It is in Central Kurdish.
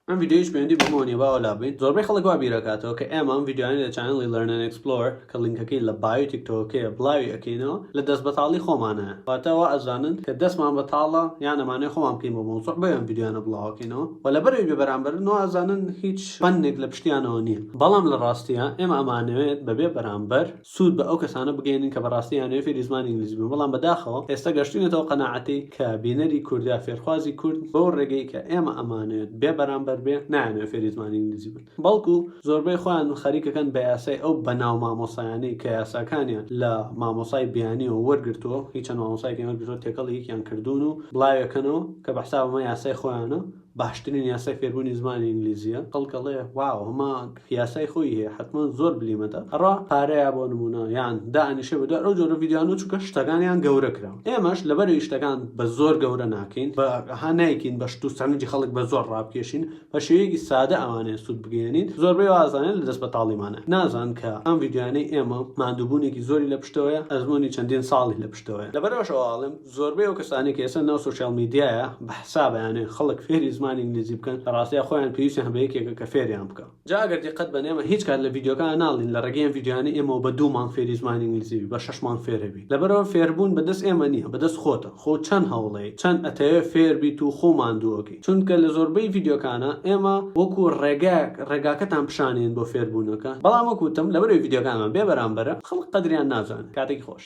ئەم ویددیوش پێوەندی بەمەوە نیە باوە لابیت زۆربەی خەڵک وا بیرەکاتەوە کە ئێمە ئەم ویددیوانی لە چانەڵی لەرنەن ئەکسپلۆر کە لینکەکەی لە بایۆی تیکتۆکەیە بڵاوی ئەکەینەوە لە دەست بەتاڵی خۆمانە واتە وا ئەزانن کە دەستمان بەتاڵە یان ئەمانەوێ خۆمان بکەین بۆ مەوزوع بۆیە ئەم ویددیوانە بڵاوەکەینەوە و لەبەرەوەی بێبەرامبەرن وا ئەزانن هیچ فەنێک لە پشتیانەوە نییە بەڵام لە ڕاستیە ئێمە ئەمانەوێت بەبێ بەرامبەر سوود بە ئەو کەسانە بگەیەنین کە بەڕاستی ئەیانەوێت فێری زمانی ئینگلیزی بن، بەڵام بەداخەوە ئێستا گەشتوینەتە ئەو قەناعەتەی کە بینەری کورد یا فێرخوازی کورد بەو ڕێگەی کە ئێمە ئەمانەوێت بێ بەرامبەر بێ نایانەوێت فێری زمانی ئینگلیزی بن بەڵکو زۆربەی خۆیان خەریکەکەن بە یاسای ئەو بەناو مامۆسایانەی کە یاساکانیان لە مامۆسای بیانیەوە وەرگرتووە هی چەند مامۆسایەکیان وەرگرتووە تێکەڵی یەکیان کردوون و بڵاویەکەنەوە کە بە حسابم ئەمە یاسای خۆیانە باشترین یاسای فێربوونی زمانی ئینگلیزیە کەڵکەڵێ واو هەما یاسای خۆی هەیە حتمما زۆر بلیمەتە ئەڕا پارەیە بۆ نمونە یان دانیشە بە دوای ئەو جۆرە ڤیددیانۆ چکە شتەکانیان گەورە کرا ئێمەش لەبەر شتەکان بە زۆر گەورە ناکەین بە هانایکین بە شت و سەرنجی خەڵک بە زۆر ڕابکێشین بە شێوەیەکی سادە ئەوانەیە سوود بگەێنین زۆربەی وازانێت لە دەست بە تاڵیمانە نازان کە ئەم ڤیددیانەی ئێمە مادووبوونێکی زۆری لە پشتەوەە ئەزمموی چەندین ساڵی لە پشتەوەە لەبەرەوەشەوە ئاڵم زۆربەی ئەو کەسانەی کە ئێستا ناو سۆشیال میدیایە بە حساب ئەیانەوێ خەڵک فێری زمانی ئینگلیزی بکەن لە ڕاستیا خۆیان پێویستیان بە یەکێکە کە فێریان بکا جا ئەگەر دیقەت بەن ئێمە هیچ کات لە ڤیدیۆکان ناڵێین لە ڕێگەی ئەم ڤیدیۆیانە ئێمەوە بە دوو مانگ فێری زمانی ئینگلیزی بی بە شەش مانگ فێرە بی لەبەرئەوە فێربوون بە دەست ئێمە نیە بە دەست خۆتە خۆ چەن هەوڵەیەی چەن ئەتەوێ فێر بیت و خۆ ماندووەکەی چونکە لە زۆربەی ڤیدیۆکانە ئێمە وەکو ڕێگایەک ڕێگاکەتان پیشان ئەین بۆ فێربوونەکە بەڵام وەک وتم لەبەرئەوەی ڤیدیۆکانمان بێ بەرامبەرە خەڵک قەدریان نازانێ کاتێکی خۆش.